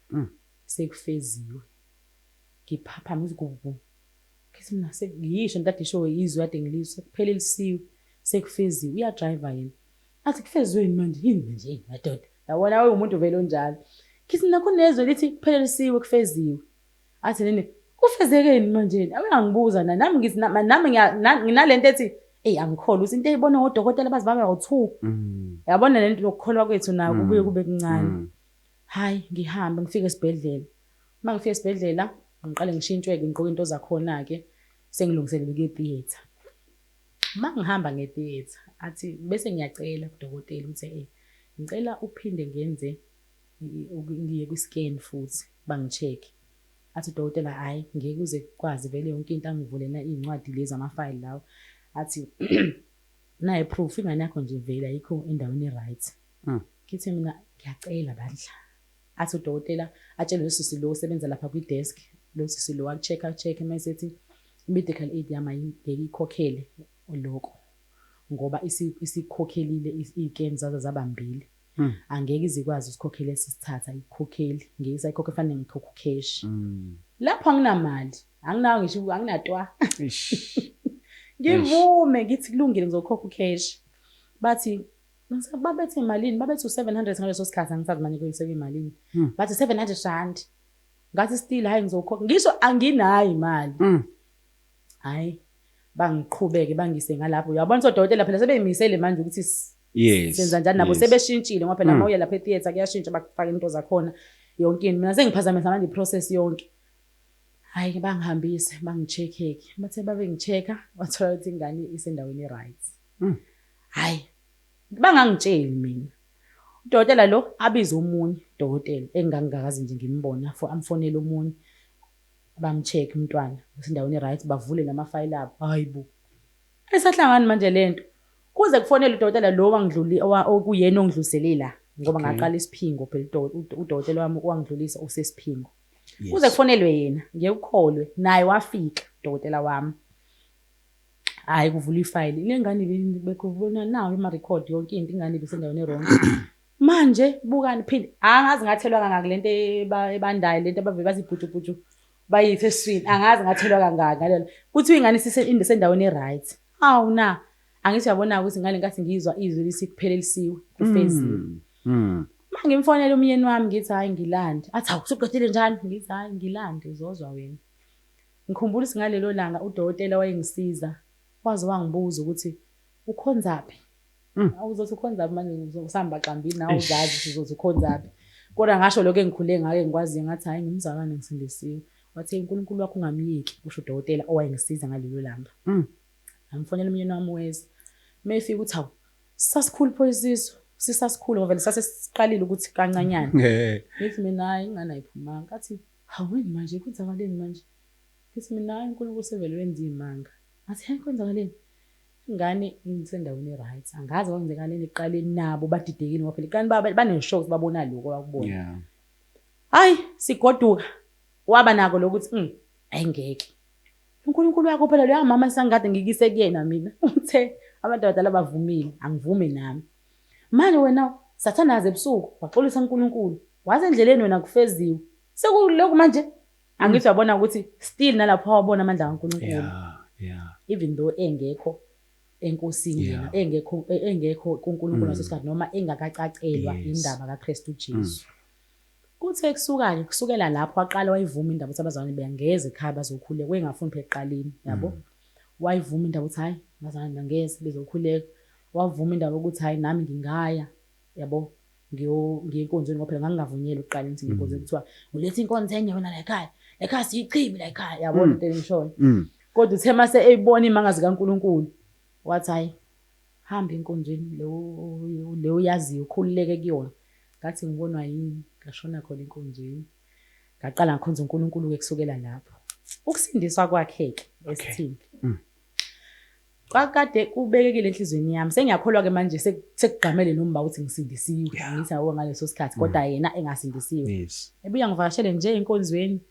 Mm. Sekufeziwe. Ngiphaphama ngithi kubu. Ngithi mina ngiyisho ntadisho izwi kade ngilizwe sekuphelelisiwe sekufeziwe uyadrayiva yena. Athi kufeziwe yini manje yini manje madoda. Yabona we umuntu vele onjalo. Kithi nakho nezwe lithi kuphelelisiwe kufeziwe. Athi nini kufezekeni manjeni akangibuza na nami ngithi nami nginalento ethi eyi angikholwa ukuthi into eyibona ngodokotela bazi baba ngo-two mm. yabona le nto nokukholwa kwethu nako mm. kubuye kube kuncane mm. hhayi ngihambe ngifike esibhedlela uma ngifike esibhedlela ngiqale ngishintshwe-ke ngigqoke into zakhona-ke sengilungiselele kuye theatre Uma ngihamba ngetheatre athi bese ngiyacela kudokotela ukuthi eh ngicela uphinde ngenze ngiye kwi-scan futhi bangi-check athi udokotela hhayi ngeke uze kwazi vele yonke into angivulena iy'ncwadi lezi amafayili lawo athi naye proof ingane yakho nje vele ayikho endaweni e-right hmm. ngithe mina ngiyacela bandla Athi udokotela atshele losisi lo osebenza lapha kwi-desk, losisi lo aku-check aku-check mayesethi i-medical aid yami ayingeke ikhokhele lokho ngoba isikhokhelile iy'keni zazo zaba mbili hmm. angeke ize ikwazi usikhokhela esisithatha ikhokheli ngeke isayikhokhe fanele ngikhokhe ucash hmm. lapho anginamali anginawo ngisho anginatwa ngivume ngithi kulungile ngizokhokha ucash bathi Babethi malini? Babethi u-700 ngaleso sikhathi angisazi manje kuyise kuyimalini. Hmm. Bathi 700 rand. Ngathi still hayi ngizokhokha. Ngisho anginayo imali. Hmm. Hayi bangiqhubeke bangise ngalapho. Uyabona ukuthi odokotela phela sebeyimisele manje ukuthi yes senza njani nabo sebeshintshile ngoba phela hmm. mawuya lapha etheater kuyashintsha bakufaka into zakhona yonke into mina sengiphazamisa manje iprocess yonke hayi ke bangihambise bangicheck-eke bathe babe ngi-check-a wathola ukuthi ingane isendaweni e-right Hmm. Hayi. Bangangitsheli mina. Udokotela lo abize omunye udokotela engangingakaze nje ngimbone afo amfonele omunye bamcheck umntwana usendaweni right bavule namafayile abo hayibo esahlangani manje lento kuze kufonele udokotela lo wangidluli okuyena ongidlulisele la ngoba ngaqala isiphingo phela udokotela wami wangidlulisa usesiphingo kuze kufonelwe yena ngiyekukholwe naye wafika udokotela wami hayi kuvula ifayili le ngane bekubona nawo emarekhodi yonke into ingane ibisendaweni erong manje bukani phinde angazi ngathelwa kangaki le nto ebandayo le nto abavele bazibhujubhuju bayithe eswini angazi ngathelwa kangaki ngalelo kuthi ingane isendaweni e-right hawu na angithi uyabona-ke ukuthi ngale nkathi ngizwa izwi lisikuphelelisiwe kufezile mm, mm. ma ngimfonele umyeni wami ngithi hhayi ngilande athi hawu suqedile njani ngithi hhayi ngilande uzozwa wena Ngikhumbula ukuthi ngalelo langa udokotela wayengisiza waze wangibuza ukuthi ukhonzaphi? Awu uzothi ukhonzaphi manje usamba xambini nawe uzazi ukuthi uzothi ukhonzaphi. Kodwa ngasho lokho engikhule ngake ngikwaziyo ngathi hhayi ngumzalwane ngisindisiwe. Wathe uNkulunkulu wakho ungamyeki, kusho udokotela owayengisiza ngalelo langa. Ngamfonela umyeni wami weza. Uma efika uthi hawu sasikhulu pho isisu sisasikhulu ngoba vele sasesiqalile ukuthi kancanyana. Ngithi mina hhayi ingane ayiphumanga. Athi Hawini manje kwenzakaleni manje ngithi mina hayi uNkulunkulu sevele wenza izimanga ngathi hhe kwenzakaleni ngani ngisendaweni eright angazi kwenzakaleni ekuqaleni nabo badidekile ngoba phela iqani baneshow ukuthi babona lokho abakubona yeah. hayi sigoduka waba nako lokuthi mm, ayingeke uNkulunkulu wakho phela loya mama esangikade ngikise kuyena mina uthe abantu abadala bavumile angivume nami Manje wena sathane aze ebusuku waxolisa uNkulunkulu waze endleleni wena kufeziwe sekuloku manje angithi uyabona ukuthi still nalapho wabona amandla kaNkulunkulu yeah yeah even though engekho enkosini yena yeah. engekho e, engekho kuNkulunkulu mm. ngasesikhathi noma engakacacelwa yes. indaba kaKristu Jesu mm. Kuthe ekusukanye kusukela lapho waqala wayivuma indaba ukuthi abazalwane bengeze ekhaya bazokhuleka wayengafuni phela eqaleni yabo mm. wayivuma indaba ukuthi hayi abazalwane bengeze bezokhuleka Wavuma indaba ukuthi hhayi nami ngingaya yabo ngiye enkonzweni ngoba phela ngangingavunyelwe ukuqala ukuthi ngiye enkonzweni mm. kuthiwa uletha inkonzo enye wena la ekhaya la ekhaya siyichibi la ekhaya yabona mm. into engishoyo mm. kodwa uthe mase eyibona imanga zikaNkuluNkulu wathi hayi hamba enkonzweni leyo leyo yaziyo ukhululeke kuyona ngathi ngibonwa yini ngashona khona enkonzweni ngaqala ngikhonza uNkulunkulu ke kusukela lapho ukusindiswa kwakheke esithini Kwakade kubekekile enhlizweni yami. Sengiyakholwa ke manje sekugqamele nomba ukuthi ngisindisiwe. Ngithi awu ngaleso sikhathi mm. kodwa yena engasindisiwe. Ebuya ngivakashele nje enkonzweni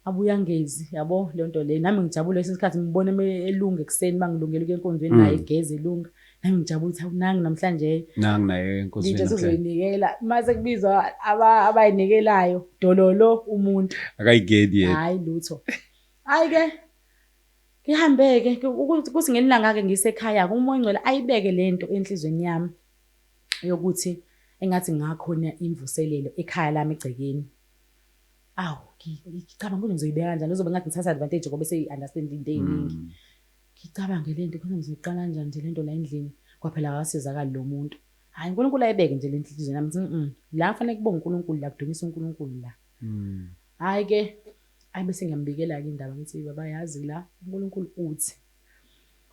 abuya ngezi yabo le nto le nami ngijabule esinye isikhathi ngibone elunga ekuseni bangilungela ukuya enkonzweni mm. naye egeze elunga nami ngijabule ukuthi awunangi namhlanje nangi naye enkonzweni nje sizoyinikela uma sekubizwa abayinikelayo dololo umuntu akayigedi yena hayi lutho hayi ke Ngihambe-ke kuthi ngelinye ilanga-ke ngisekhaya-ke umoya ongcwele ayibeke le nto enhlizweni yami yokuthi engathi ngakhona imvuselelo ekhaya lami egcekeni. Awu, ngicabanga ukuthi ngizoyibeka kanjani, kuzobe ngathi ngithatha advantage ngoba seyi-understand into ey'ningi. Mm. Ngicabange le nto khona ngizoyiqala kanjani nje le nto la endlini, kwaphela akasizakali lo muntu. Hhayi uNkulunkulu ayibeke nje le nto enhlizweni yami, la kufanele kubonge uNkulunkulu la, kudumise uNkulunkulu la. Mm. Hayi ke ayi bese ngiyambikela ke indaba ngithi baba yazi la uNkulunkulu uthi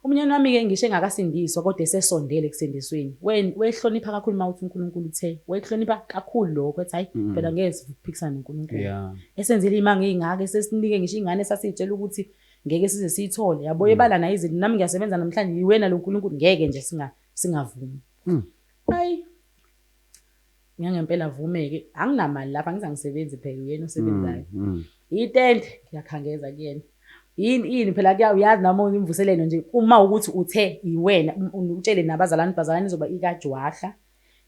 Umnyeni wami ke ngisho engakasindiswa kodwa esesondele ekusindisweni wehlonipha kakhulu uma uthi uNkulunkulu uthe wehlonipha kakhulu lokho ethi hayi mm. phela ngeke siphikisane noNkulunkulu esenzile imanga ingaka esesinike ngisho ingane sasitshela ukuthi ngeke size siyithole yabo mm. ebala nayo izinto nami ngiyasebenza namhlanje yiwena lo Nkulunkulu ngeke nje singa singavumi mm. hayi Ngangempela vumeke anginamali lapha ngiza ngisebenzi phela uyena osebenzayo. Mm, mm. Itende ngiyakhangeza kuyena. Yini yini phela kuya uyazi nami ngimvuselelo nje uma ukuthi uthe yiwena utshele nabazalwane bazalwane izoba ikajwahla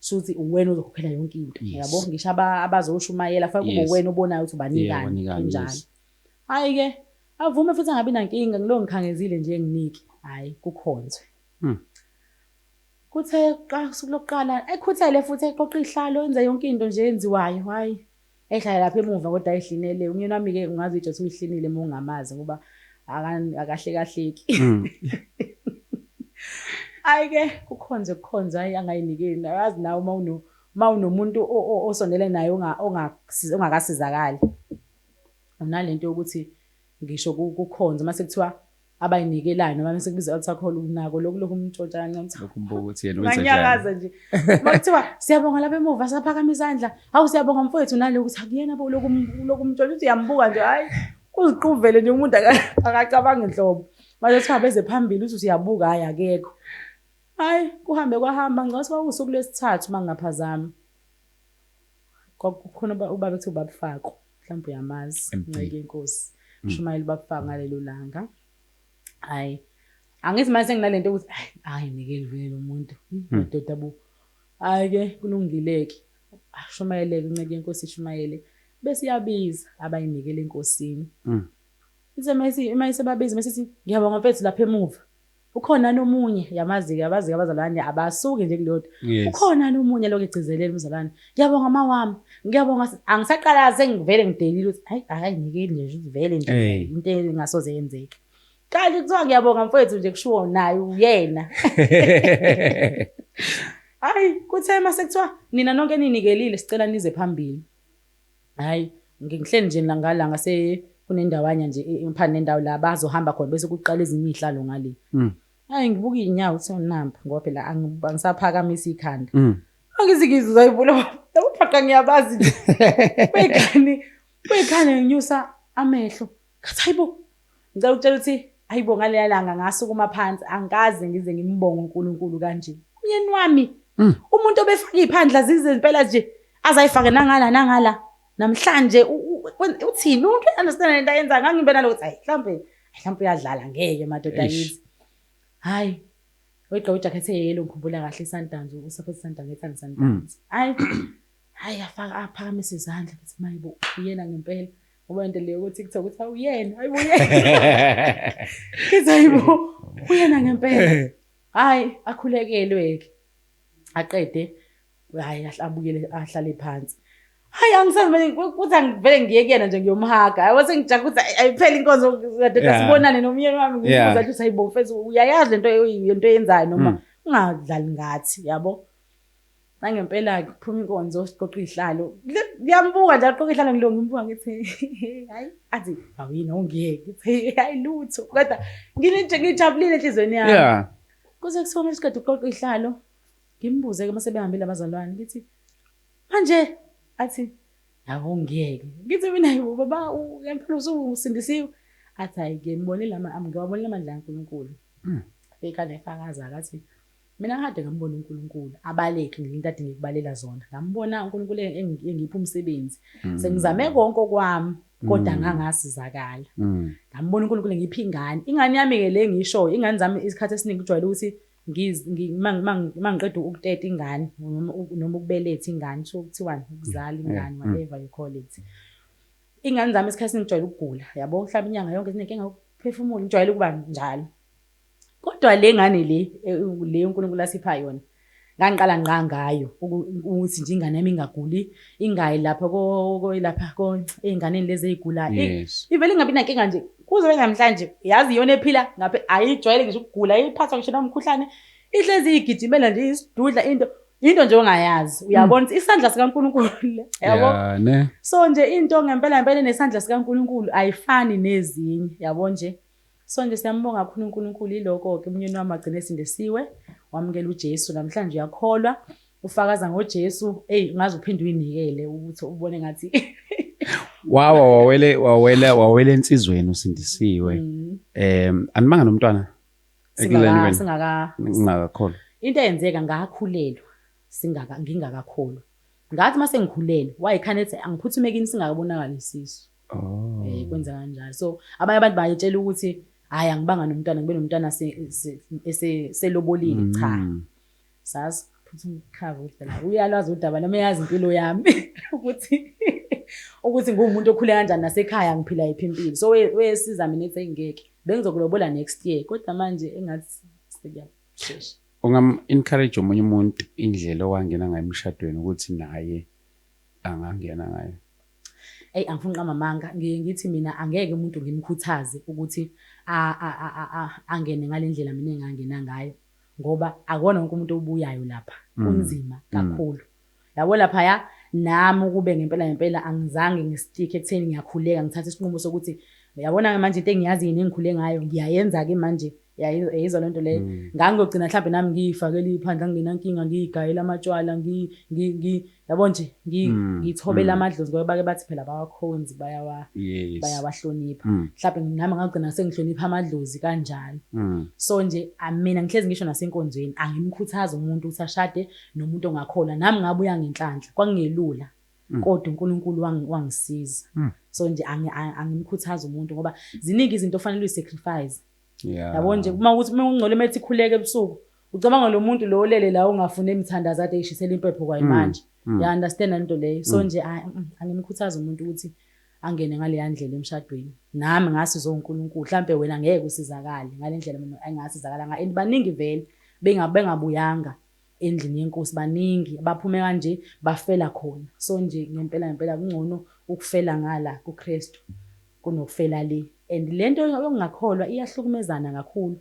shuthi uwena uzokhokhela yonke into yabo yes. ngisho abazoshumayela faka kube yes. uwena obonayo ukuthi ubanikani yeah, kanjani yes. hayi ke avume futhi angabi nankinga ngilo ngikhangezile nje nginiki hayi kukhonzwe hmm. Kuthe usuku lokuqala ekhuthele futhi eqoqa ihlalo enze yonke into nje enziwayo hhayi ehlala lapha emuva kodwa ehlinele umyeni wami-ke ungazi ijothi uyihlinile uma ungamazi ngoba akahlekahleki hmm. hhayi-ke kukhonze kukhonze hhayi angayinikeli awazi nawe uma uno uma unomuntu osondele naye ongakasizakali unale nto yokuthi ngisho kukhonze uma sekuthiwa abayinikelayo noma bese kubiza altar call unako lokhu lokhu umntshontsha kancane ukuthi lokhu umbuka ukuthi yena wenza njani ngiyakaza nje makuthiwa siyabonga lapha emuva saphakama izandla hawu siyabonga mfowethu naloku ukuthi akuyena bo lokhu lokhu umntshontsha uthi uyambuka nje hayi uziquvele nje umuntu akacabanga inhlobo manje kuthiwa beze phambili uthi usiyabuka hayi akekho hayi kuhambe kwahamba ngicela ukuthi wawusuku lwesithathu mangingaphazami kwakukhona uba- ubaba ekuthiwa ubaba fako mhlawumbe uyamazi Empini. nceke yenkosi shumayela ubaba fako ngalelo langa hayi angithi manje senginale nto yokuthi "Ai, hayi ngeke livele lo muntu madoda bo hhayi-ke kulungile-ke Ah, shumayeleke unceke yenkosi ishumayele bese iyabiza abayinikele enkosini Mm. Ithi uma isi- uma isibabiza uma isithi ngiyabonga mfethu lapha emuva ukhona nomunye yamazi yabazi abazalwane abasuki nje kulodwa yes. ukhona nomunye lokho egcizelela umzalwane ngiyabonga mama wami ngiyabonga angisaqala sengivele ngidelile ukuthi hayi akayinike nje ivele nje hey. into engasoze yenzeke kanti kuthiwa ngiyabonga mfowethu nje kushiwo naye uyena hayi kuthe uma sekuthiwa nina nonke ninikelile sicela nize phambili Hhayi, ngihleli nje la ngala ngase kunendawanya nje phandle nendawo la bazohamba khona bese kuqala ezinye iy'hlalo ngale. Mm. Hhayi ngibuka iy'nyawo kuthiwa namba ngoba phela angisaphakamisa ikhanda. Mm. Angithi ngizizwa ivula yabo phaqa ngiyabazi nje. Bekhani bekhani nginyusa amehlo. Ngathi hayibo ngicela ukutshela ukuthi hayibo ngaleya langa ngasukuma phansi angikaze ngize ngimbonge uNkulunkulu kanje. Umyeni wami mm. umuntu obefaka iphandla zize impela nje azayifake nangala nangala namhlanje uthini umuntu understand lento ayenza ngangibe nalokuthi hayi mhlambe mhlambe uyadlala ngeke madoda yithi. Hayi Uyigqoka ijacket eyelo ngikhumbula kahle iSundowns uSupports Sundowns ngethanda Sundowns. Mm. Hayi hayi aphakamise izandla ngithi mayibo uyena ngempela. Ngoba into leyo ukuthi kuthiwa ukuthi awuyena, hayibo uyena. Kithi hayibo uyena ngempela. Hayi akhulekelwe-ke. Aqede hayi abuyele ahlale phansi. Hayi angisavele kuthi angivele ngiye kuyena nje ngiyomhaga. Hayi wase ngijaha ukuthi ayiphele inkonzo kade kasibonane nomyeni wami ngibuza ukuthi hayibo mfethu uyayazi lento into yenzayo noma mm. ungadlali ngathi yabo. Nangempela-ke kuphuma inkonzo siqoqa iy'hlalo. Ngiyambuka nje aqoqa iy'hlalo ngilunga ngimbuka ngithi hhayi athi awuyini awungiyeke ngithi hhayi lutho kodwa ngijabulile enhliziyweni yami. Yeah. Kuze kuthiwa uma siqeda ukuqoqa iy'hlalo ngimbuze-ke uma sebehambile abazalwane ngithi manje athi awungiyeke ngithi mina yibo baba ngempela usungusindisiwe athi hhayi-ke ngibonile ngiwabonile amandla kaNkulunkulu. Ekhanda efakaza-ke athi Mina kade ngambona uNkulunkulu abaleke ngelinto ade ngikubalela zona. Ngambona uNkulunkulu engipha umsebenzi. Mm. Sengizame konke okwami kodwa mm. ngangasizakala. Mm. Ngambona uNkulunkulu ngipha ingane. Ingane yami ke le ngisho ingane zami isikhathi esiningi kujwayele ukuthi mangiqeda ukuteta ingane noma ukubeletha ingane kusho kuthiwani ukuzala ingane whatever you call it. Ingane zami esikhathi singijwayele ukugula yabo uhlaba inyanga yonke zinenkinga yokuphefumula ngijwayele ukuba njalo. kodwa le ngane le eh, le uNkulunkulu asipha yona ngangiqala ngqa ngayo ukuthi nje ingane yami ingaguli ingayi lapha koyilapha ey'nganeni lezi ey'gulayo ivele ingabi nankinga nje kuze benamhlanje yazi iyona ephila ngaphe ayijwayele ngisho ukugula iphathwa ngisho nomkhuhlane ihlezi iyigijimela nje isidudla into into nje ongayazi uyabona hmm. isandla sikaNkuluNkulu yabo so nje into ngempela ngempela nesandla sikaNkuluNkulu ayifani nezinye yabo nje Sonke siyambonga kakhulu uNkulunkulu yiloko-ke umnyeni wami wagcina esindisiwe wamukela uJesu namhlanje uyakholwa ufakaza ngoJesu eyi ngaze uphinde uyinikele ukuthi ubone ngathi wawa wawele wawela wawela ensizweni usindisiwe mm. em animanga nomntwana singaka singaka ngingakakholwa into eyenzeka ngakhulelwa singaka ngingakakholwa ngathi mase ngikhulelwe wayekhane ethi angiphuthume kini singakabonakali isisu Oh. Eh kwenza kanjalo. So abanye abantu bayetshela ukuthi hayi angibanga nomntwana ngibe nomntwana ese selobolile mm. cha. Sazi phutha umkhava udala. Uyalwazi udaba noma eyazi impilo yami ukuthi ukuthi ngumuntu okhule kanjani nasekhaya ngiphila yiphi impilo. So wesiza mina ethi ngeke. Bengizokulobola next year kodwa manje engathi sekuyaphesha. Ungam encourage omunye umuntu indlela owangena ngayo emshadweni ukuthi naye angangena ngayo. Eyi angifuni uqamba amanga, ngiye ngithi mina angeke umuntu ngimkhuthaze ukuthi angene ngale ndlela mina engangena ngayo ngoba akona wonke umuntu obuyayo lapha, mm. kunzima mm. kakhulu. Yabo laphaya nami ukube ngempela ngempela angizange ngisitike ekutheni ngiyakhuleka ngithathe isinqumo sokuthi yabona-ke manje into engiyaziyo nengikhule ngayo ngiyayenza-ke manje yayizwa lento leyo mm. ngangiyogcina mhlawumbe nami ngiyifakela iphandla ngingenankinga ngiyigayela amatshwala yabo nje mm. ngiyithobela mm. amadlozi ngoba bake bathi phela bawakhonzi bayawahlonipha mhlawumbe nami ngagcina sengihlonipha amadlozi kanjalo so nje mina ngihlezi ngisho nasenkonzweni angimkhuthazi umuntu ukuthi ashade nomuntu ongakholwa nami ngabuya ngenhlanhla kwangelula Mm. kodwa uNkulunkulu wangisiza mm. so nje angimkhuthaza umuntu ngoba ziningi izinto ofanele uyisacrifice Yeah. Yabo nje uma ukuthi uma ungcole methi khuleke ebusuku ucabanga lo muntu lo olele la ungafune imthandazo ade ishisela impepho kwayi manje. Mm. Ya understand lento leyo. So nje ay, mm, angimkhuthaza umuntu ukuthi angene ngaleya ndlela emshadweni. Nami ngasi zo uNkulunkulu mhlambe wena ngeke usizakale ngalendlela mina engasizakala nga and baningi vele bengabe ngabuyanga. endlini yenkosi baningi abaphume kanje bafela khona so nje ngempela ngempela kungcono ukufela ngala kuKristu kunokufela le and lento yokungakholwa iyahlukumezana kakhulu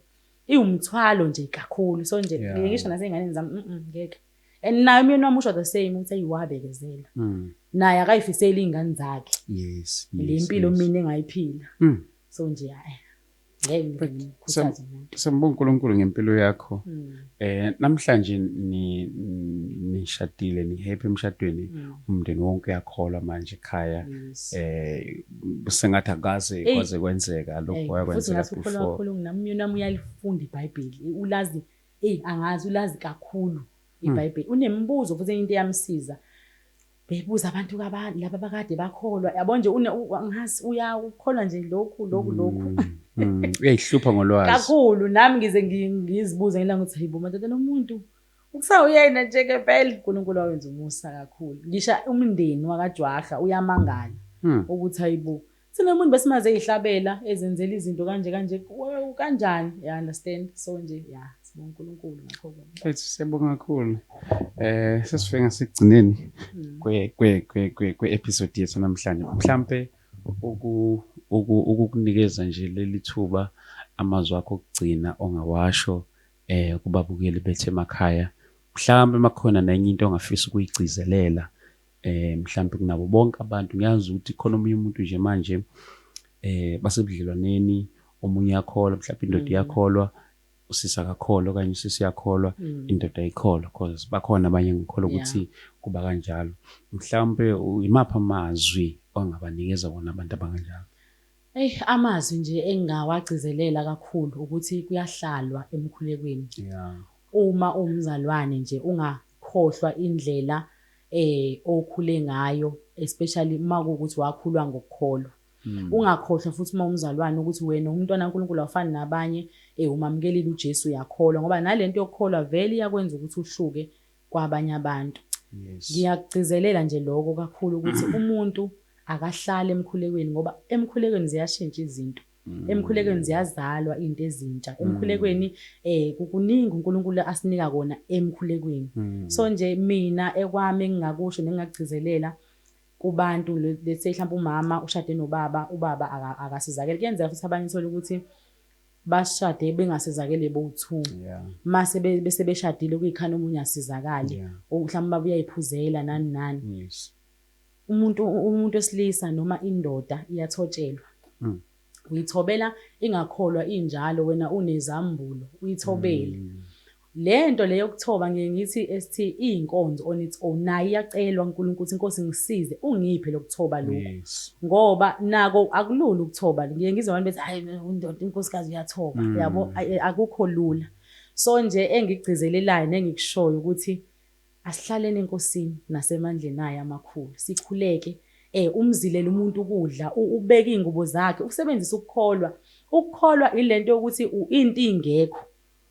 iwumthwalo nje kakhulu so nje yeah. ngisho naseyinganeni zami mm, mm ngeke and naye umyeni wami usho the same ukuthi ayiwabekezela mm. naye akayifiseli iy'ngane zakhe yes, yes, le mpilo yes. mina engayiphila mm. so nje hayi Sembonga uNkulunkulu ngempilo yakho. Hmm. Eh namhlanje ni nishadile ni happy emshadweni hmm. umndeni wonke uyakholwa manje ekhaya. Eh sengathi akaze kwaze kwenzeka lokho yakwenzeka before. Futhi ngasikholwa kakhulu namyona uyalifunda iBhayibheli. Ulazi hey angazi ulazi kakhulu hmm. iBhayibheli. Unemibuzo futhi into eyamsiza. beyibuza abantu kabani laba bakade bakholwa yabo nje ngazi uyakukholwa nje lokhu lokhu lokhu mm, mm. uyayihlupha ngolwazi kakhulu nami ngize ngizibuze ngelanga ukuthi hayibo madoda nomuntu ukusawuyena nje ke phela uNkulunkulu wawenza umusa kakhulu ngisha umndeni wakajwaha uyamangala hmm. ukuthi hayibo Thina umuntu besimaze eyihlabela ezenzela izinto kanje kanje kanjani ya understand so nje ya sibonga uNkulunkulu ngakho ke. Mfethu siyabonga kakhulu. Eh sesifike ngasekugcineni hmm. kwe kwe kwe kwe episode yethu namhlanje. Mhlambe uku ukukunikeza nje leli thuba amazwi akho okugcina ongawasho eh kubabukeli bethu emakhaya. Mhlambe makhona nenye into ongafisa ukuyigcizelela eh mhlambe kunabo bonke abantu ngiyazi ukuthi khona omunye umuntu nje manje eh basebudlelwaneni omunye yakholwa mhlawumbe indoda mm. yakholwa usisi akakholwa okanye usisi yakholwa mm. indoda ayikholwa because bakhona abanye ngikholwa ukuthi kuba kanjalo mhlawumbe imapha amazwi ongabanikeza wona abantu abanganjalo Ey amazwi nje engingawagcizelela kakhulu ukuthi kuyahlalwa emkhulekweni. Yeah. Uma umzalwane nje unga khohlwa indlela okhule ngayo especially uma kuwukuthi wakhulwa ngokukholwa. Ungakhohlwa futhi uma umzalwane ukuthi wena ungumntwana kaNkulunkulu awufani nabanye, umamukelile uJesu uyakholwa ngoba nalento yokukholwa vele iyakwenza ukuthi uhluke kwabanye abantu. Ngiyakugcizelela nje lokho kakhulu ukuthi umuntu akahlali emkhulekweni ngoba emkhulekweni ziyashintsha izinto. Mm. Emkhulekweni ziyazalwa izinto ezintsha. Mm. Emkhulekweni eh kukuningi uNkulunkulu asinika kona emkhulekweni. Mm. So nje mina ekwami engingakusho nengakugcizelela kubantu let's say mhlawumbe umama ushade nobaba, ubaba akasizakele. Kuyenzeka futhi abanye thola ukuthi bashade bengasizakele bowu-two mase bese beshadile kuyikhani omunye asizakale mhlawumbe uba uyayiphuzela nani nani umuntu umuntu wesilisa noma indoda iyathotshelwa mm. uyithobela ingakholwa injalo wena unezambulo uyithobele mm. lento leyo kuthoba ngiye ngithi ST izinkonzo on its own nayi iyacelwa uNkulunkulu ukuthi inkosi ngisize ungiphe lokuthoba lokho yes. ngoba nako akulula ukuthoba ngiye ngizwe abantu bethi hayi indoda inkosikazi uyathoba mm. yabo akukho lula so nje engigcizelelayo nengikushoyo ukuthi Asihlaleni eNkosini nasemandleni ayo amakhulu, sikhuleke, e, umzilele umuntu ukudla, u, ubeke izingubo zakhe, usebenzise ukukholwa. Ukukholwa ile nto yokuthi u, into ingekho,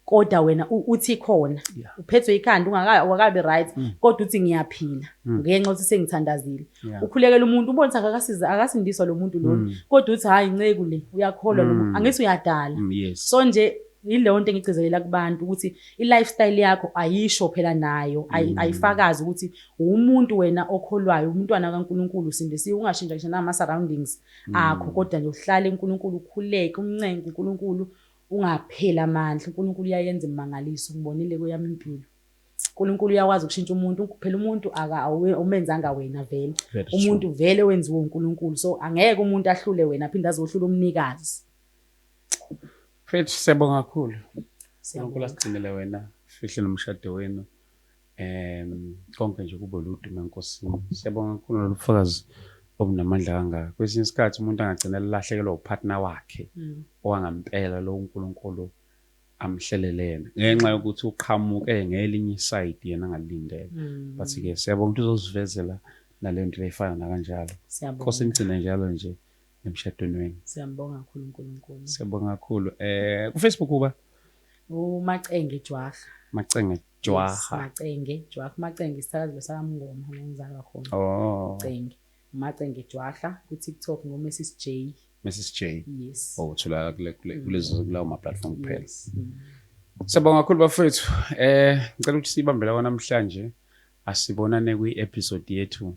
kodwa wena u, uthi ikhona. Yeah. Uphethwe ikhanda, ungaka, ungakabi right, Mm. kodwa uthi ngiyaphila, Mm. ngenxa yokuthi sengithandazile. Yeah. Ukhulekela umuntu, ubona ukuthi akakasiza, akasindiswa lo muntu lona, Mm. kodwa uthi hhayi nceku le, uyakholwa lo Mm. muntu, angithi uyadala. Mm, yes. So nje, Yileyonto engigcizelela kubantu ukuthi i-lifestyle yakho ayisho phela nayo mm. ayifakazi ukuthi uwumuntu wena okholwayo umntwana kaNkulunkulu usindisiwe ungashintsha ngisho nama-surroundings mm. akho kodwa nje uhlale uNkulunkulu ukhuleke umncenke uNkulunkulu ungapheli amandla uNkulunkulu uyayenza imangaliso ngibonile kweyami impilo uNkulunkulu uyakwazi ukushintsha umuntu phela umuntu awumenzanga wena vele umuntu vele wenziwe uNkulunkulu so angeke umuntu ahlule wena aphinde azohlula umnikazi Mfethu siyabonga kakhulu. Unkulunkulu asigcinele wena fihle nomshado wenu um konke nje kube ludume enkosini siyabonga kakhulu nolufakazi obunamandla kangaka kwesinye isikhathi umuntu angagcina elahlekelwa upartner wakhe mm. owangampela lo unkulunkulu amhlelele yena ngenxa yokuthi uqhamuke ngelinye isayidi yena angalindele mm. but-ke siyabonga ukuthi uzosivezela nale nto leyifana nakanjalo nkosi ngigcine njalo nje emshadweni wenu. Siyambonga kakhulu uNkulunkulu. Siyabonga kakhulu. Eh kuFacebook uba uMacenge Jwaha. Macenge Jwaha. Yes, Macenge Jwaha. Macenge isithakazelo sakamngoma ngenzalwa khona. Oh. Macenge. Macenge Jwaha ku TikTok ngo Mrs J. Mrs J. Yes. Oh uthola kule kule mm. kulezo kulawo ma platform kuphela. Yes. Mm. Siyabonga kakhulu bafethu. Eh ngicela ukuthi sibambela kwanamhlanje asibonane kwi episode yethu